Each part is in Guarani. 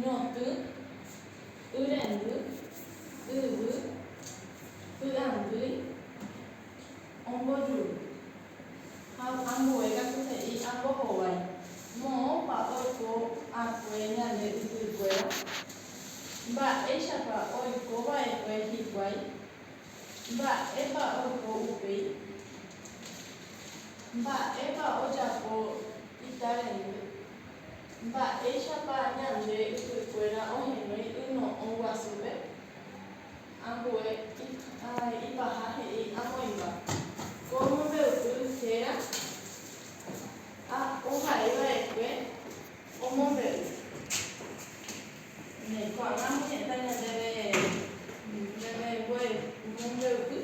ñotỹ, yrendy, yvy, py'andýi, ombojuru. Ha ambue katu he'i apo hovái, Moõpa oiko akue ñande ypykuéra? Mba'éichapa oiko va'ekue hikuái? Mba'épa oiko upéi? Mba'épa ojapo itarendýi? Mba'éichapa ñande ypykuéra ohenói yno'õ guasúpe? Ambue ipaha he'i amoĩmba, ko mombe'upy héra ha ohai va'ekue omombe'u. Néi ko'ág̃a amo heta ñandéve ñande mombe'upy.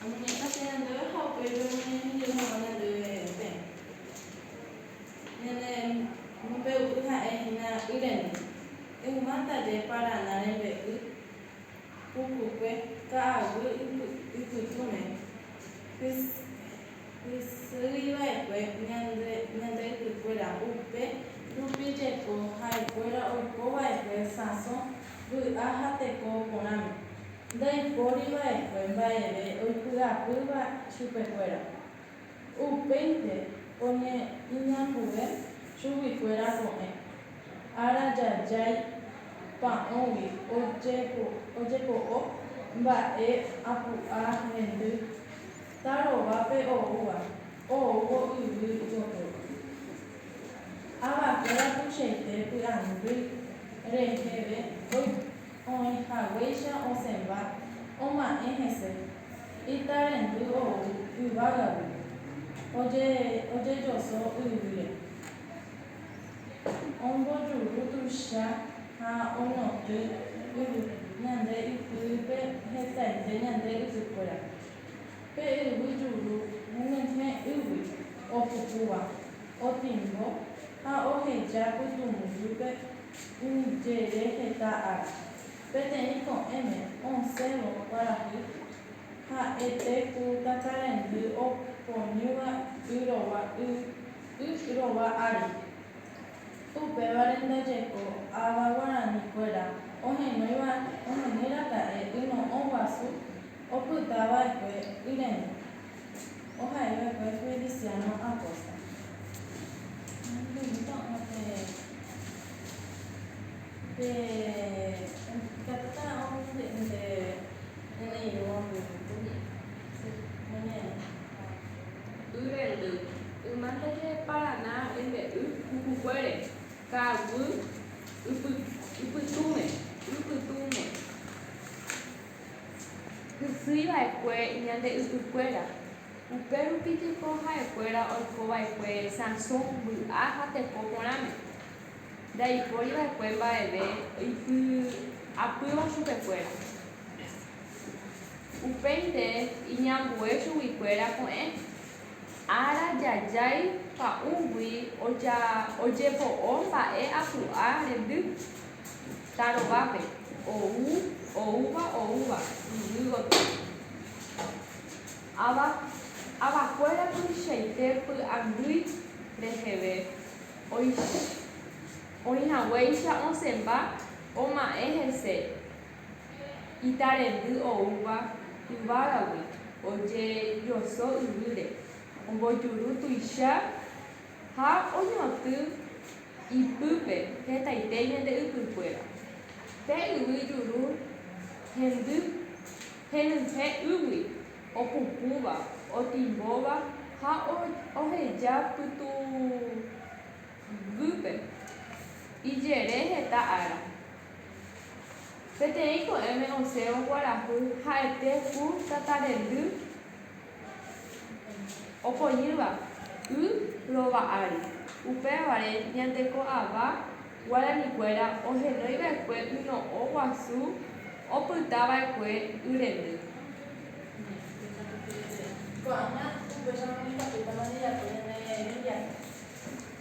Amoñe'ẽtaha ñandéve ha upéi pemoñehendujeýta hag̃ua ñandéve resẽ. Ñane mombe'u'y ha'e hína y rende. Ehuma ndaje Paraná rembe'y, pukukue, ka'aguy ypytũme, hysýiva'ekue ñande ypykuéra, upe rupi jeko ha'ekuéra oikova'ekue sãso vy'a ha teko porãme, ndaipóri va'ekue mba'eve oipy'apýva chupekuéra. Upéinte oñe'inambue chuguikuéra ko'ẽ, ára jajái pa'õgui ojepo'o mba'e apu'a hendy. tarovápe oúva oúvo yvy gotyo. Avakuéra tuichaite py'andy reheve oĩhaguéicha osẽva oma'ẽ hese, itarendy ou yvágagui, ojejoso yvýre, ombojuru tuicha ha oñotỹ yvy ñande ypýpe hetaite ñande ysykuéra. Pe yvy juru ñe'ẽ ýgui opukúva, otimbo ha oheja pytũmbyhýpe umi jere heta ára. Peteĩ ko'ẽme osẽvo kuarahy ha'ete ku takarendy oponýva y rova y y rova ári. Upévare ndajeko ava guarani kuéra ohenóiva ohenói raka'e yno'õ guasu opyta vaekue yrene ohai vaekue Feliciano Acosta. Y rendy, yma ndaje Paraná rembe'y pukukuére, ka'aguy ypytũme, y pytũme, hysýi va'ekue ñande ypykuéra, upérupi jepo ha'ekuéra oiko va'ekue sãso mby'a ha tepo porãme, ndaipóri va'ekue mba'eve oipy'apýva chupekuéra. Upéinte iñambue chuguikuéra ko'ẽ. Ára jajái pa'ũgui ojepo'o mba'e apu'a rendy. Tarovápe, ou, oúva, oúva, yvy gotyo. Ava, avakuéra tuichaite py'angýi reheve, oĩhaguéicha osẽmba oma'ẽ hese. Itarendy oúva yvágagui ojejoso yvýre, ombojuru tuicha ha oñotỹ ipýpe hetaite ñande ypykuéra. Pe yvy juru hendy henyhẽ ýgui opupũva, otimbóva ha oheja pytũguypýpe ijere heta ára. Peteĩ ko'ẽme osẽvo kuarahy ha'ete ku tatarendy opojýva y rova ári. Upévare ñanteko ava guaranikuéra ohenói va'ekue yno'õ guasu opyta va'ekue y rendy.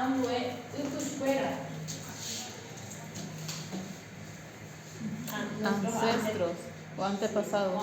Ambue ypykuéra. Ancestros o antepasados.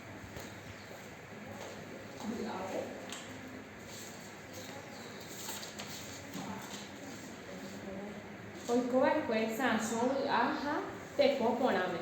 Oikova'ekue Sansõ vy'a ha teko porãme.